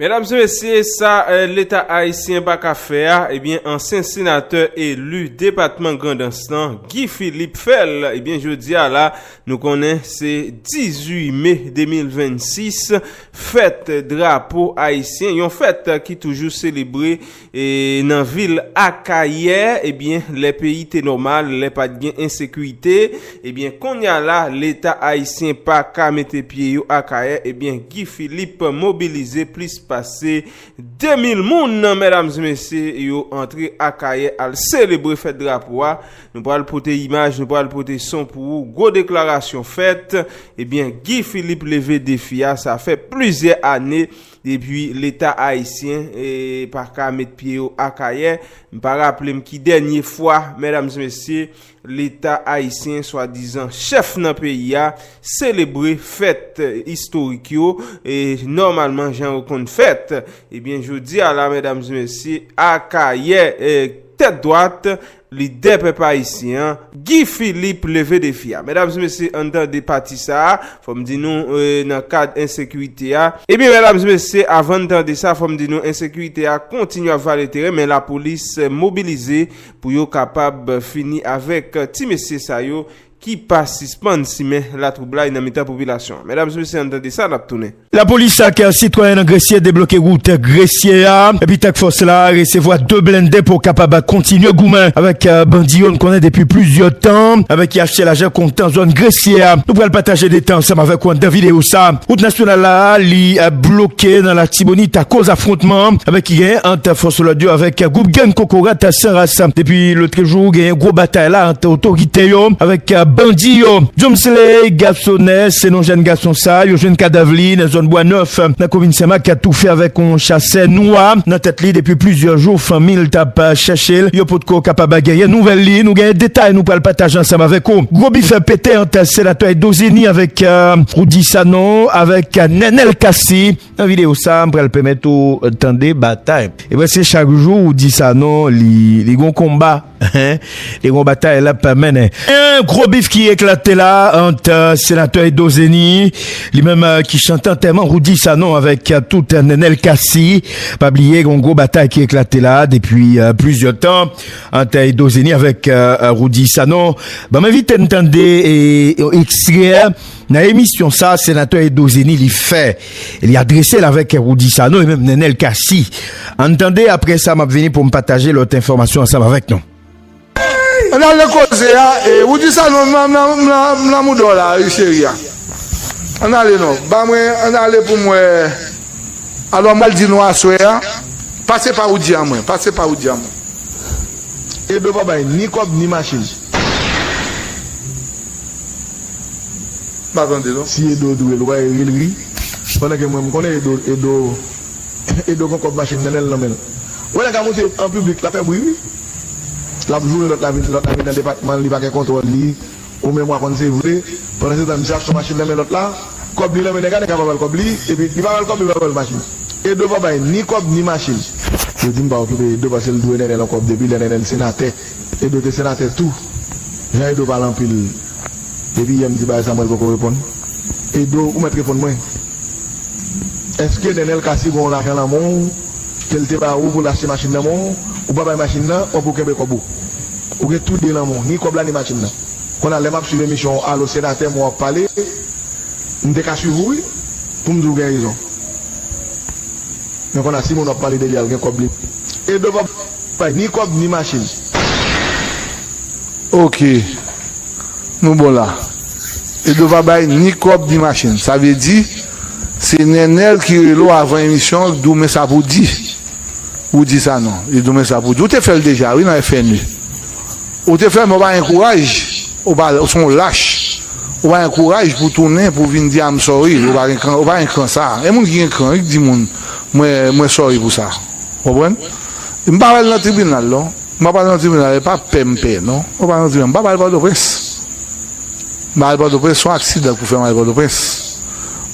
Medam se mesye sa leta ayisyen pa ka fè a ebyen ansyen senatè eli depatman grandans lan Guy Philippe fè l ebyen jodi a la nou konnen se 18 me 2026 fèt drapo ayisyen yon fèt ki toujou selebre E nan vil Akayè, ebyen lè peyi te nòmal, lè pat gen ensekirite, ebyen konnya la leta ayisyen pa ka mete pye yo Akayè, ebyen Guy Philippe mobilize plis pase 2000 moun mèdames e mesye yo antre Akayè al selebre fèt drapo a, nou pral pote imaj, nou pral pote son pou ou, gwo deklarasyon fèt, ebyen Guy Philippe leve defi a, sa fè plizyè ane. Depi leta ayisyen pa ka met pye yo Akayè, m pa raple m ki dènye fwa, medam e mesye, leta ayisyen swa dizan chèf nan peyi a selebre fèt istorik yo e nòmalman jan yo konn fèt. Ebyen jodi a la medam e mesye, Akayè tèt dwat, Lidè pèp ayisyen an, Guy Philippe leve defi a. Medam e mesye ann tande pati sa a, fò m di nou nan kad ensekirite a. Ebyen medam e mesye avan n tande sa fò m di nou ensekirite a kontinye ap vale teren men lapolis mobilize pou yo kapab fini avèk ti mesye sa yo ki pa sispann simen latwoublay nan mitan popilasyon an. Medam e mesye ann tande sa nap tounen. Lapolis ak sitwayen nan Gresye debloke wout Gresye a epi Task Force la resevwa 2 blende pou kapab kontinye goumen avèk bandi yo n konnen depi plizyè tan epi ki achte lajan kontan zòn Gresye a. Nou pral pataje detay ansanm avèk ou anndan videyo sa. Wout nasyonal la li bloke nan Latibonit akoz afwontman ki genyen ant fòs lòd yo avèk gwoup gang Kokorat San Ras depi lotrejou. Gwo batay la ant otorite yo avèk bandi yo. Jomsley Garçonnet se non jèn gason sa, yo jwenn kadav li nan zòn Bwa Nèf, nan komin Senmak, atoufe avèk yon chasè nwa nan tèt li depi plizyè jou. Fanmi l t ap chèche l, yo potko kapab genyen nouvèl li. Nou genyen detay nou pral pataje ansanm avèk ou. Gwo bifè pete ant Senatè Eddo Zeni avèk Roody Sanon avèk Nenel Cassy. Nan video sa m pral pèmèt ou tande batay. E preske chak jou ou di Sanon li gon konba, li gon batay l ap mennen. Yon gwo bif ki eklate la ant Senatè Edo Zeni, li menm ki chante antèman Roody Sanon avèk tout Nenel Cassy. Pa bliye gen yon gwo batay ki eklate la depi plizyè tan ant Edo Zeni avèk Roody Sanon. Banm envite n tande yon ekstrè Nan emisyon sa, Senatè Edo Zeni li fè, li adrese l avèk Roudy Sanon e menm Nenel Cassy. Ann tande, aprè sa m ap vini pou m pataje lòt enfòmasyon ansanm avèk nou. Ann al nan koze a, Roudy Sanon m m lanmou dò la wi cheri a. Ann ale non, ba mwen ann ale pou m wè alò m al di nou aswè a, pase pa Roudy a mwen, pase pa Roudy a mwen. Edo pa bay ni kòb ni machin. Si edo dwe lwa eri l ri pandan ke mwen m konnen edo edo edo gon kòb machin nan nen l nan men l ou wè nèg la moute an piblik lap fè bri wi lap joure lòt la vin lòt la vin nan depatman l li pa gen kontwòl li ou menm wa konn se vre pandan se tan distraksyon machin nan men lòt la kòb li nan men nèg la nèg la pa bal kòb li epi li pa bal kòb li pa bal machin edo pa bay ni kòb ni machin yo di m pa okipe edo paske l dwe nènè l on kòb depi lè nènè l senatè Edo te senatè tou. Jan Edo pale anpil depi yè m di bagay sa mwen l poko reponn Edo ou mèt reponn mwen èske Nenel Cassy ba w lajan nan men w ke l te ba ou pou l achte machin nan men w ou pa bay machin nan ou pou kenbe kòb ou ou gen tou 2 nan men w ni kòb la ni machin nan konn a lè map swiv emisyon w alo senatè mwen wap pale m te ka swiv ou wi pou m di w gen rezon. Yon konn a si moun wap pale deli a ou gen kob li e blofè ou pa bay ni kob ni machine. Ok Nou bon la. Edo pa bay ni kob ni machine sa vle di se Nenel ki rele w avan emisyon ki di w men sa pou w di. Ou di sa non. Li di w men sa pou w di. Ou te fè l deja wi nan FNU. Ou te fèmen ou pa gen kouraj ou pa ou son lach ou pa gen kouraj pou tounen pou vin di I'm sorry ou pa gen kran ou pa gen kran sa gen moun ki gen kran wi k di moun mwen mwen sorry pou sa ou konprann m pa pral nan tribinal non m pa pral nan tribinal e pa pè m pè non m pa pral nan tribinal m pa pral pòtoprens m pa al pòtoprens son aksidan k pou fè m al pòtoprens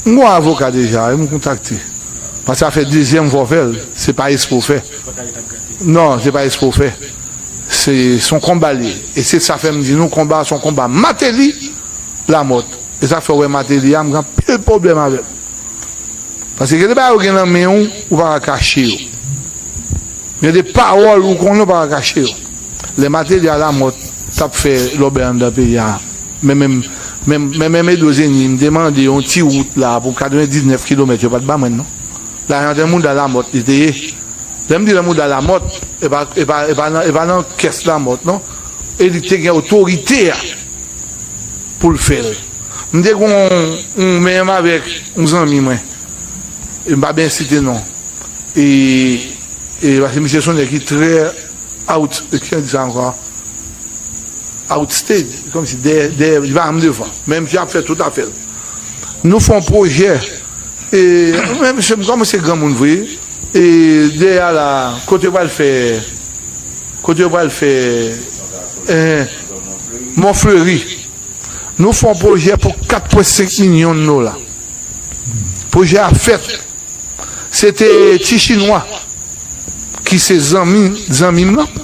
m gon avoka deja wi m kontakte paske sa fè dezyèm fwa w fè l se pa espre w fè non se pa espre w fè. Se son konba liye e se sa fèm di nou konba a son konba mateli lamòt e sa fèw wè mateli a m gen anpil pwoblèm avèl paske gen de bagay ou gen nan menw ou paka kache yo gen de pawòl ou konnen ou paka kache yo lè mateli a lamòt tap fè lòbèy anndan peyi a men menm men menm edozeni m te mande yon ti wout la pou 99 kilomèt yo pat ban mwen non. Lajan de mouda lamòt li te ye. Lèm di de mouda lamòt e pa nan kès lamòt non. E li te gen otorite a poul fèl. M te gen yon menm avèk yon zanmi mwen. E m pa byen site non. E paske misye son nèg ki trè out kijan di sa ankò a? Out stage. Kòmsi dèyè li pa janm devan. Men misye ap fè tout afèl. Nou fon projè e men mesye m komanse granmoun vre e dèyè a la kote yo pral fè kote yo pral fè eh mon fleri nou fon projè pou 4 pwen 5 minyon dola projè a fèt se te ti chinwa ki se zanmi zanmi m lan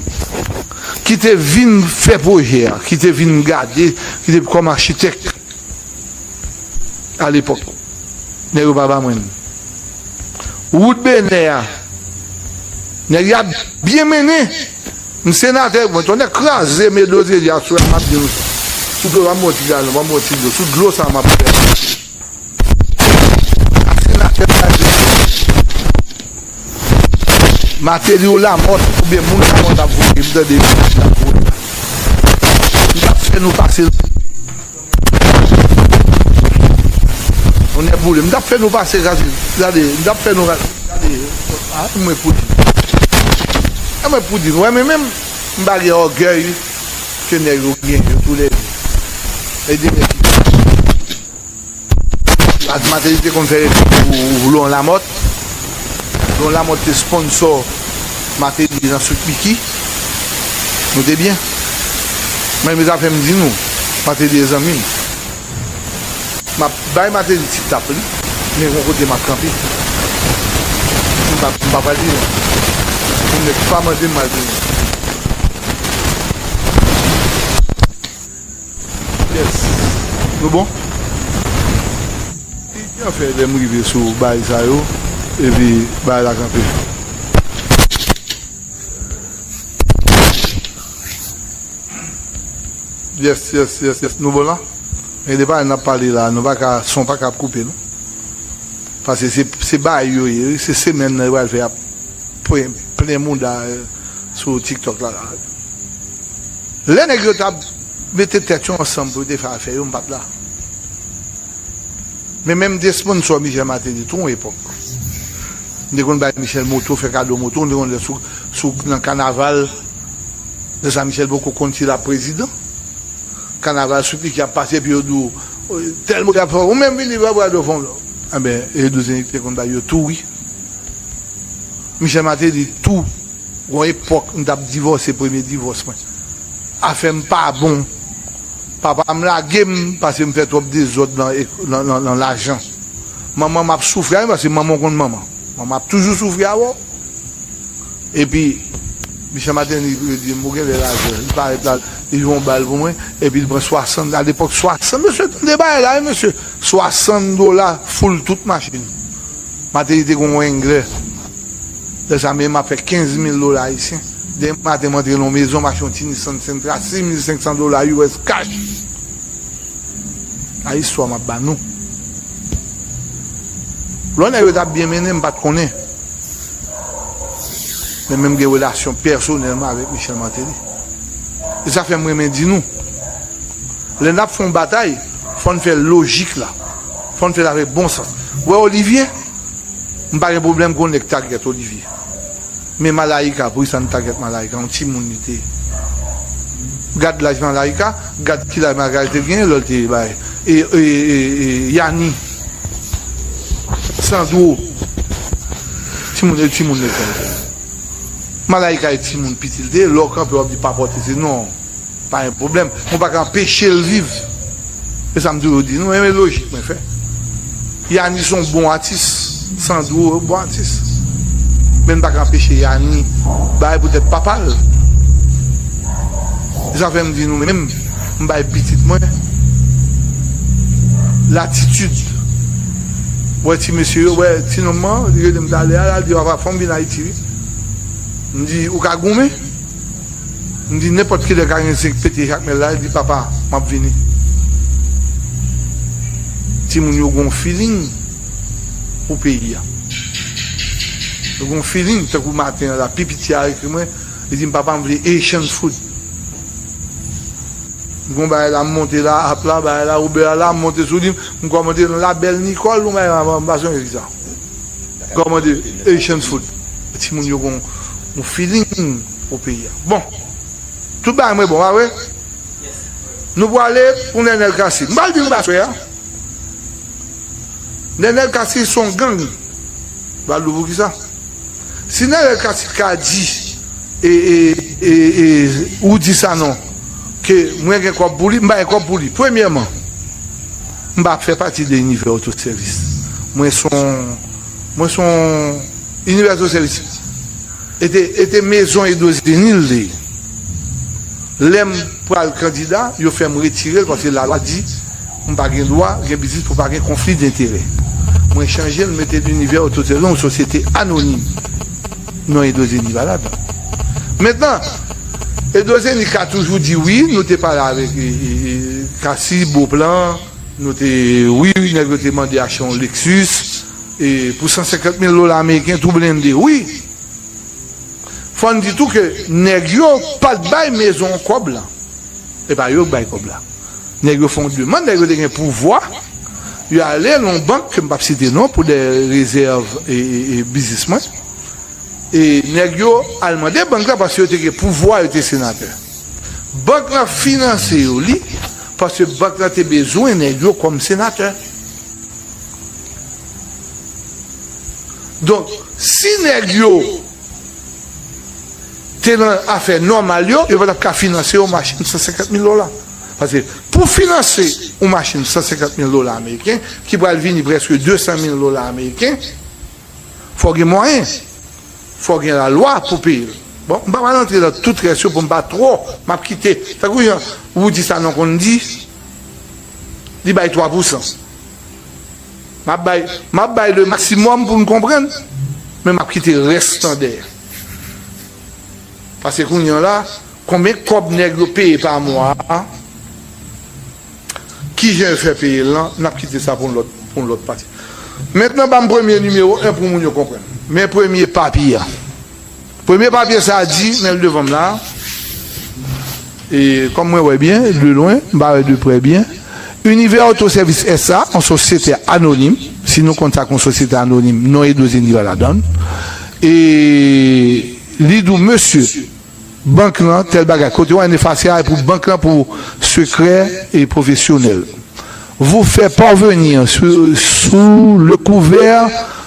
ki te vin fè projè a ki te vin gade ki te kòm achitèk. A lepòk, nèg yo pa ba mwen li. Wout Benè a, nèg yo ap byen mennen. M senatè, mwen tonnè kraze m e dlodyè di a sou la m ap di nou sa. Sou dlo, ban m bon ti galon, ban m bon ti dlo. Sou dlo sa a m ap fè. Senatè kraze m. Mateli ou lamòt oubyen moun lamòt ap voye m tande mesaj la pou nou m tap fè nou pase rale yo nè boule m tap fè nou pase rase rale yo m tap fè nou rase rale yo a m mwen pou di nou a mwen pou di nou wè men menm m pa gen ògèy ke nèg yo gen yo tou lède e de nèg ki Ak Mateli te konn fè reklame pou Laurent Lamothe. Laurent Lamothe te sponsor Mateli nan Sweet Micky. Note byen. Men me zafè m di nou, Mateli e zanmi m. M ap bay Mateli ti tap li, men gon kote m ap kanpe. M pa m pa pral pi lwen. Pou nèg pa mande m m al pi lwen. Yes Nou bon? Ki jan fè lèm rive sou baay sa yo epi baay la kanpe? Yes yes yes yes Nou bon la? Men de baay nap pale la nou paka son paka ap koupe non Pase se se baay yo ye wi se semèn nan yo pral fè yap plen mouda sou tiktok la la. Lè nèg yo tap mete tèt yo ansanm pou yo te fè afè yo m pat la. Men menm m te sponsor Michel Martelly tou yon epòk. M te konn bay Michel moto, fè kado moto, m te konn lè sou sou nan kanaval lè sa Michel poko konn si lap prezidan. Kanaval sou piki ap pase epi yo di w tèl moun ap fè ou menm vini vwa bwad ou fon lò. Anben Edo Zenith te konn bay yo tou wi. Michel Martelly tou. Gon epòk m tap divòse premye divòs mwen afèm pa bon papam lagem pasem fè twòp dezòd nan lajan manmanm ap soufri avèm paske manman ou konn manman manman ap toujou soufri avèw epi Michel Martelly redim bon genlè lajan li parèt la li jwenn yon bal pou mwen epi li pran 60 alepòk 60 mesye tande bagay la wi mesye 60 dola foule tout machin Martelly te gon wenglè. Lè sa menm, m ap fè 15 mil dola ayisyen. Demen maten, m antre nan yon mezon, m achte yon ti Nissan Sentra, 6500 dola US kach! Sa istwa m ap ba nou. Lò nèg yo t ap byen mennen, m pa t konnen. Men men m gen relasyon pèsonèlman avèk Michel Martelly. E sa fè m renmen di nou, lè n ap fè yon batay, fò n fè l lojik la. Fò n fè l avèk bon sans. Ou wè Olivier? M pa gen pwoblèm kon nèg tagyèt Olivier men Malaïka pou kisa n tagyèt Malaïka yon timoun li te gad laj Malaïka gad ki laj Malaïka te genyen lè l te bay Yani Sandro timoun e timoun lekòl te ye Malaïka e timoun piti l te ye lè w kanpe w ap di pa pòte se non pa gen pwoblèm men w pa ka anpeche l viv. E sa m toujou di nou, mwen renmen lojik mwen fè. Yani son bon atis, Sandro yon bon atis. Men n pa ka anpeche Yani bay pou tèt papa l. E sa fè m di nou menm, m bay pitit mwen latitid. Ou wè ti mesye yo, wè ti nonm an, li rele m talè a la, li di papa fò m vin Ayiti wi. M di ou ka goumen. M di nenpòt ki lè Karin Zink pete jakmèl la, li di papa m ap vini. Timoun yo gen yon feeling pou peyi a. Yo gen yon feeling tankou maten an la pi piti a ekri mwen, li di m papa m vle Haitian food. M gen yon bagay la m monte la, app la, bagay la, Uber a la, m monte sou li, m kòmande nan La Belle Nicole, yon bagay m pa sonje ki sa. Gòmande Asian food pou ti moun yo gon yon feeling pou peyi a. Bon tout bagay mwen bon pa vre? Nou pwale pou Nenel Cassy. M pral di nou sa aswè a. Nenel Cassy se yon gang. M pral di w pou kisa. Si Nenel Cassy t ka di Roudy Sanon ke mwen gen kòb pou li, m pa gen kòb pou li. Premyèman. M pa fè pati de inivè otosèvis. Mwen s on Mwen s on Inivè otosèvis e te e te mezon edozeni l te ye. Lè m pral kandida, yo fè m retire l paske lalwa di m pa gen dwa gen biznis pou pa gen konfli denterè. Mwen chanje l m mete l Inivè Otosèvis, yon sosyete anonim. Non Edo Zeni pa la dan. Mentnan, Edo Zeni ka toujou di wi nou te pale avèk Cassy, Beauplan, nou te wi nèg yo te mande achte yon Lexus pou 150 mil dola ameriken tou blende wi. Fò n di tou ke nèg yo pat bay mezon an kòb lan. E pa yo k bay kòb la. Nèg yo fè yon demand, nèg yo te gen pouvwa, yo ale nan yon bank ke m pap site non pou dè rezèv biznis mwen, e nèg yo al mande bank la paske yo te gen pouvwa, yo te senatè. Bank la finanse yo li paske bank la te bezwen nèg yo kòm senatè. Donk, si nèg yo te nan afè nòmal yo, yo pa t ap ka finanse yon machin 150 mil dola. Paske pou finanse yon machin 150 mil dola ameriken, ki pral vini prèske 200 mil dola ameriken, fò w gen mwayen, fò w gen lalwa pou peye l. Bon, m pa pral antre nan tout rès yo pou m pa twò, m ap kite, tankou jan Roudy Sanon konn di, li bay 3 pousan. M ap bay, m ap bay le maximum pou n konprann, men m ap kite rès lan dèyè. Pase kounye an la, konbyen kòb nèg yo peye pa mwa a, ki jan yo fè peye l lan, n ap kite sa pou yon lòt, pou yon lòt pati. Mentnan ban m premye nimewo 1 pou moun yo konprann. Men premye papi an. Premye papye sa di, men l devan m la, e kòm mwen wè byen, de lwen, m pa wè de prè byen, Univers Auto Service SA, yon sosyete anonim, si nou konn sa k yon sosyete anonim, non Edouce Denigral ladan l, e li di w, mesye, bank lan, tèl bagay, kote w efase a e pou bank lan pou sekrè e pwofesyonèl, vous faire parvenir sous le couvert.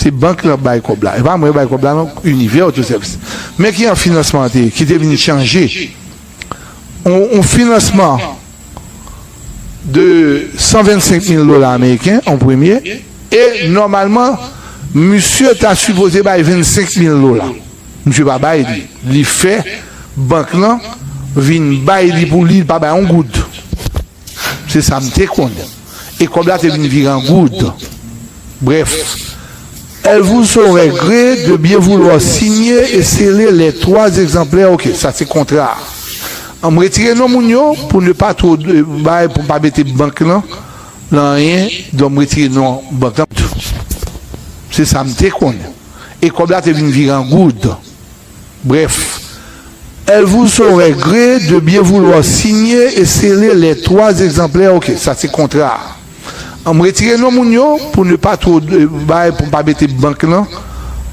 Se bank lan bay kòb la. E pa mwen bay kòb la non, Univers Autoservice. Men ki jan finansman an te ye, ki te vin chanje yon finansman de 125 mil dola ameriken an premye e nòmalman misye ta sipoze bay 25 mil dola. Misye pa bay li. Li fè bank lan vin bay li pou li, li pa bay yon goud. Se sa m te konnen. E kòb la te vin vire an goud. Brèf, Elle vous saurait gré de bien vouloir signer et sceller les trois exemplaires, ok, sa se kontra a. An m retire non moun yo pou ne pas trop de bagay pou m pa mete bank lan nan anyen, donk m retire non bank lan tou. Se sa m te konnen. E kòb la te vin vire an goud. Brèf, Elle vous aurait gré de bien vouloir signer et sceller les trois exemplaires ok sa se kontra a an m retire non moun yo pou ne pas trop de bay pou m pa mete bank lan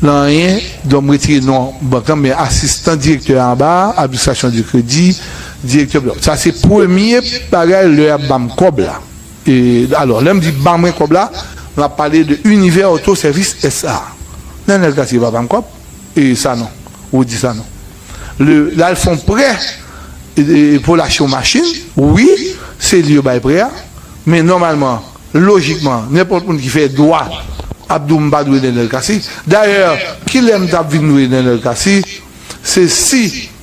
nan anyen donk m retire non bank lan men asistan direktè a anba a administration du crédit direktè bla sa se premye bagay lè y ap ban m kòb la e alò lè m di ban mwen kòb la m ap pale de Univers Auto Service SA lè nèg la di l va ban m kòb. e Sanon Rudy Sanon le lal fon prè pou l achte yon machin wi se li yo bay prè a men nòmalman lojikman nenpòt moun ki fè dwa ap di w m pa dwe Nenel Cassy dayè kilè m tap vin dwe Nenel Cassy se si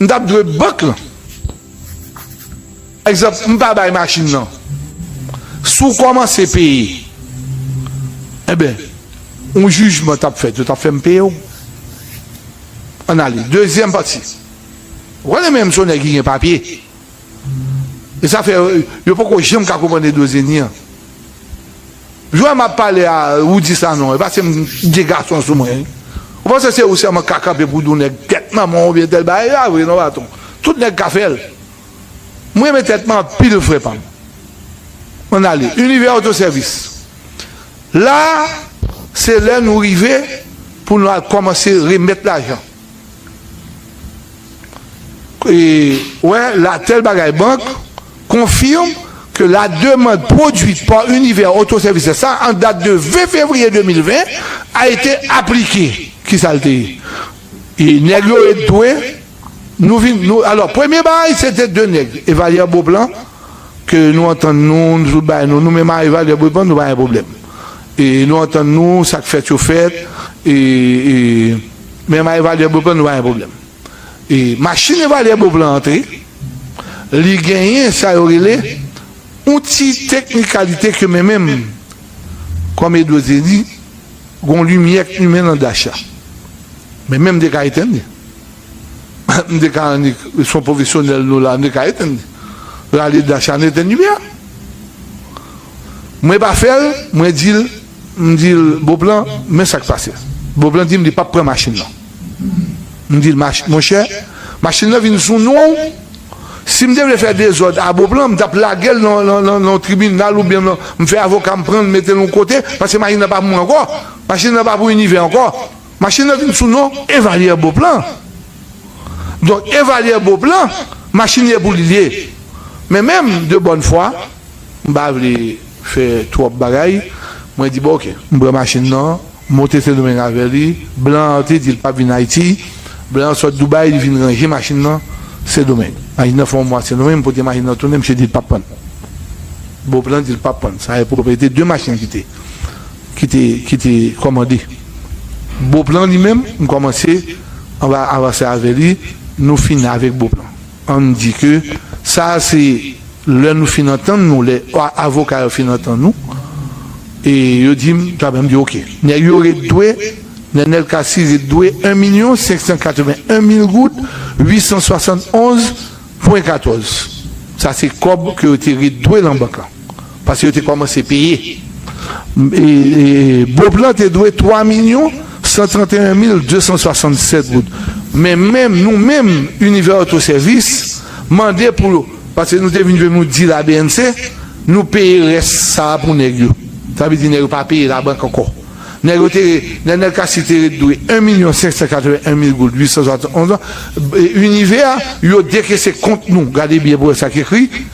M tap dwe bank lan. Egzanp, m pa bay machin lan. Si w kòmanse peye, enben, yon jijman t ap fèt, yo t ap fè m peye w. Ann ale. Dezyèm pati. Ou konnen menm si w nèg ki gen papye, E sa fè yo poko janm ka konprann Edo Zenny an. Jwè map pale a ou di Sanon e paske m gen gason sou mwen wi. Ou panse se ou sèlman ka kanpe pou di yon nèg tèt manman w oubyen tèl bagay e pa vre non baton. Tout nèg ka fè l. M renmen tèt mwen anpil frè pa m. Ann ale. Univers Autoservice. La se lè nou rive pou nou al kòmanse remèt lajan. Wè la Tel bagay bank confirme que la demande produite par Univers Auto Services sa en date de 20 février 2020 a été appliquée. Kisa l te ye? E nèg yo ret dwe nou vin nou alò premye bagay se te 2 nèg Evalière Beauplan ke nou antann nou nou tout bay nou nou menm a Evalière Beauplan nou pa gen pwoblèm e nou antann nou sa k fèt yo fèt e Men ma evalyè Beauplan nou pa gen pwoblèm. E machin evalyè Beauplan antre, li genyen sa yo rele yon ti teknikalite ke men menm kòm Eddo te di, gen yon limyè k limen nan dash la. Men menm m te ka etenn li. M te ka annik, se yon pwofesyonèl nou la, m te ka etenn li. Rale dash la, nou etenn limyè a. Mwen pa fè l, mwen di l, m di l, Boplan, men sa k pase. Boplan di m li pap pran machin lan. M di l, Monchè, machin lan vin sou non w, si m te vle fè dezòd a Boplan, m t ap lage l nan yon tribinal oubyen m fè avoka m pran l mete l yon kote, paske machin lan pa pou mwen ankò, machin lan pa pou Inivè ankò. Machin lan vin sou non Evalyè Boplan. Donk Evalyè Boplan, machin li e pou li li ye. Men menm, de bòn fwa. M pa vle fè twòp bagay. Mwen di bon ok. M pran machin nan, m monte Sendomeng avè li. Blan an te di l pap vin Ayiti. Blan an sot Doubay, li vin ranje machin nan Sendomeng. Machin nan fè yon mwa Sendomeng, m pote machin nan tounen, misye di l pap pran. Bon plan di l pap pran. Sa e pwopwete de machin ki te, ki te, ki te kòmande. Bon plan li menm, m kòmanse, anba avanse avè li, nou fin avèk bon plan. An n di ke sa a se lè nou fin antann nou, lè avoka yo fin antann nou, e yo di m sa, m di oke. Nèg yo ret dwe, Nenel Cassy ret dwe 1 milyon 581 mil goud 871 pwen 14. Sa se kòb ke yo te ret dwe lan bank lan. Paske yo te kòmanse peye. Bop lan te dwe 3 milyon 131 mil 267 goud. Men menm nou menm Univers Auto Service mande pou yo, paske nou te vin jwenn nou dil a BNC, nou peye rès sa a pou nèg yo. Sa vle di nèg yo pa peye labank ankò. Nèg yo te, Nenel Cassy te ret dwe 1 milyon 581 mil goud 871 goud. Univers, yo dekese kont nou, gade byen pou wè sa ki ekri.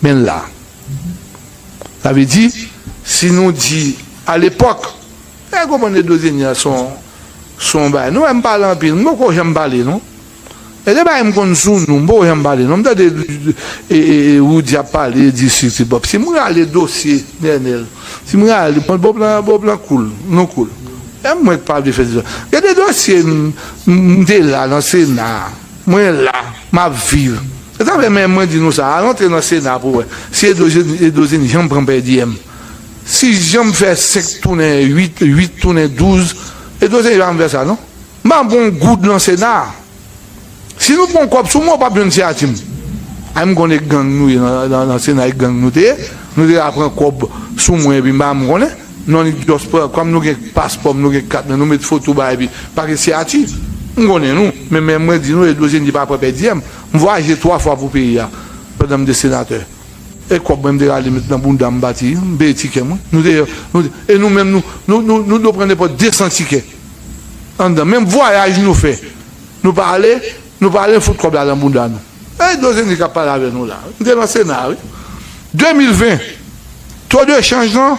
Men la. Sa vle di, si nou di alepòk, fè konprann Edozeni a son yon bagay. Nou wè m pale anpil, m poko janm pale non. Gen de bagay m konn sou nou, m poko janm pale non. M tande Roody ap pale, di sisi bòp. Si m rale dosye Nenel, si m rale, bon bòp lan, bòp lan koul, nou koul. Se mwen k pa vle fè dosye. Gen de dosye m te la nan Sena a, mwen la, m ap viv. Yo tap fè men mwen di nou sa, al antre nan sena pou wè si edozin janm pran pèdiyèm, si janm fè 5 tounen 8, 8 tounen 12, edozin janm fè sa non. M pa pran yon goud nan sena, si nou pran yon kòb sou mwen ou pap jwenn siyati m. Ay m konn e gang nou ye nan sena e gang nou te ye, nou te ka pran kòb sou mwen epi m pa menm konnen, non li just pran, kòm nou gen paspò m nou gen kat mwen nou met foto bagay epi pa gen siyati, m konnen nou, men men mwen di nou edozin di pa pran pèdiyèm. M vwayaje 3 fwa pou peyi a pandan m te senatè. E kòb mwen m te rale met nan bounda m pati, m peye tikè mwen. Nou te nou te e nou menm nou nou nou nou do pran nenpòt 200 tikè anndan menm vwayaj nou fè nou pa ale nou pa ale fout kòb la nan bounda nou. E Dozeni k ap pale avè nou la. M te nan sena wi. 2020 to de chanj lan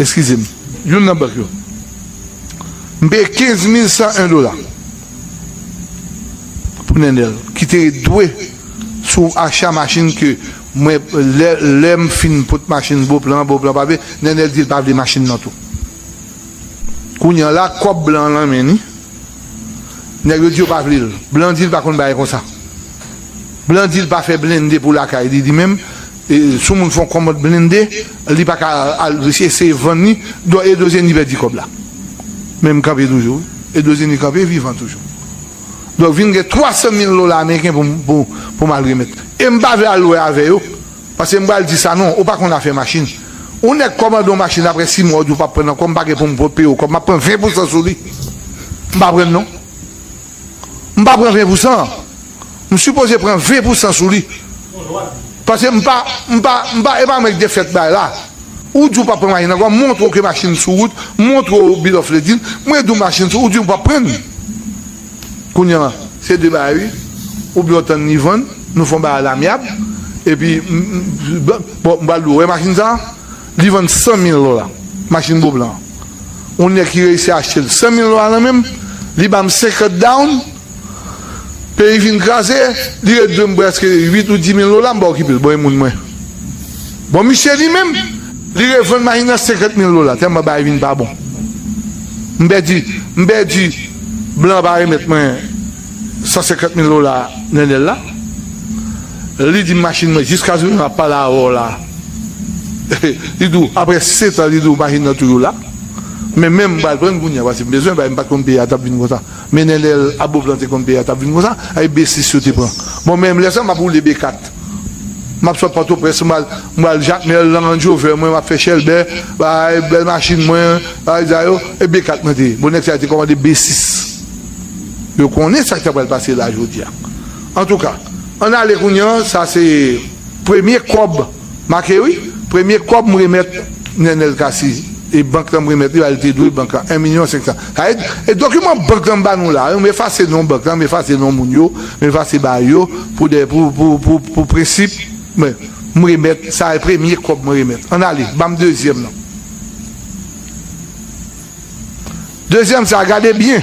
Eskize m, youn nan bank yo. M peye 15101 dola pou Nenel ki te dwe sou acha machin ke mwen lè lè m fin pot machin Beauplan, Beauplan pa vle, Nenel di l pa vle machin nan tou. Kounye an la kòb blan an lan men li, nèg yo di yo pa vle l. Blan di l pa konn bagay konsa. Blan di l pa fè blende pou lakay li li menm. Si yon moun fè yon kòmand blende li pa ka al eseye vann li don Edo Zenny pèdi kòb la men m kanpe toujou wi Edo Zenny kanpe vivan toujou donk vin gen 300 mil dola ameriken pou m pou m al remèt li e m pa vle al wè avè yo paske m pral di Sanon ou pa konn afè machin yon nèg kòmande yon machin aprè 6 mwa ou di w pap pran l ankò m pa gen pou m peye w kòb m ap pran 20 pousan sou li m pa pran l non m pa pran 20 pousan an. M sipoze pran 20 pou 100 sou li paske m pa m pa m pa e pa mwen k te fèt bay la ou di ou pap pran machin ankò m montre w ke machin sou wout m montre w bill of lading m redi w machin sou ou di ou pap pran l kounya se 2 bagay wi oubyen w tann li vann nou fè yon bagay lamyab epi m bon m pral di w ou wè machin sa li vann 100 mil dola machin bo blan an yon nèg ki reyisi achte l 100 mil dola nan men m li ba m 50 down. Peyi fin kraze, li ret dwe m prèske 8 ou 10 mil dola m pa okipe l bon e moun mwen. Bon misye li menm, li revann machin nan 50 mil dola tèlman bagay vin pa bon. M pèdi, m pèdi blan an pa remèt mwen 150 mil dola Nenel la. Li di m machin mwen jiskazounen map pale avè w la, li di w aprè 7 an li di w machin nan toujou la. Men menm m pral pran l kounya paske m bezwen bagay m pat konn peyi a tap vin konsa. Men nènèl aboob lan te konn peyi a tap vin konsa avk b 6 yo te pran bon men lè sa map woule b 4 map sot pòtoprens mwen al jakmèl nan range rover mwen map fè chèlbè bagay bèl machin mwen bagay sa yo e b 4 mwen te bon nèg sa yo te kòmande b 6 yo konnen sak ta pral pase la jodia antouka ann ale kounya sa se premye kòb Make wi, premye kòb m remèt Nenel Cassy e bank lan m remèt li a li te dwe bank lan 1 milyon 500 sa vle di e dokiman bank lan ba nou la m efase non bank lan m efase non moun yo m efase ba yo pou de pou pou pou pou prensip men m remèt sa e premye kòb mwen remèt an ale banm dezyèm nan dezyèm sa gade byen.